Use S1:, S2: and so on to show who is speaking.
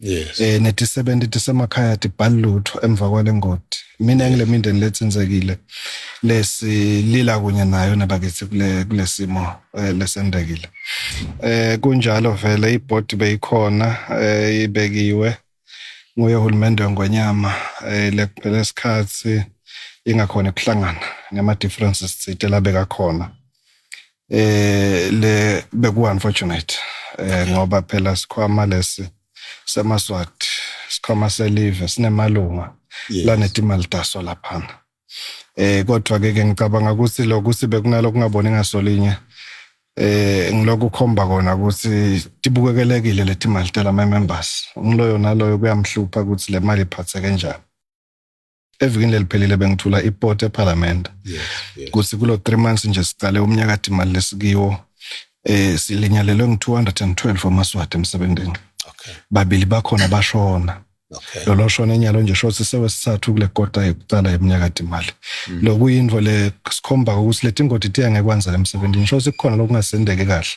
S1: yes eh nethi
S2: 70
S1: tisemakhaya tibhali lutho emva kwale ngodi mina ngile mindeni letsinzekile lesi lila kunye nayo nabakithi kule kulesimo eh, lesendekile eh kunjalo vele ibhodi beyikhona eh ibekiwe nguye uhulumende ngonyama eh lekuphela isikhathi ingakhona ukuhlangana ngama differences sithe labeka khona eh le beku unfortunate eh ngoba phela sikhwama lesi semaswati sikhwama selive sinemalunga yes. lanetimali taso laphana eh kodwa ke ke ngicabanga ukuthi lokhu sibe kunalo kungaboni ngasolinye eh ngilokhu khomba kona ukuthi tibukekelekile letimali tela members umloyo naloyo kuyamhlupha ukuthi le mali iphathe kanjani evikini leliphelile bengithula iport eparliament yes, yes. kuthi kulo 3 months nje siqale umnyaka dimali lesikiwo eh silinyalelwe ngi212 wamaswati emsebenzini okay babili
S2: bakhona
S1: bashona Okay. Lolo
S2: shona enyalo nje
S1: shothi sewesithathu kule kota yokuqala yeminyaka imali. Mm. Lokuyinvo le sikhomba ukuthi leti ngoti tiya ngekwanza emsebenzini. Shothi kukhona lokungasendeke kahle.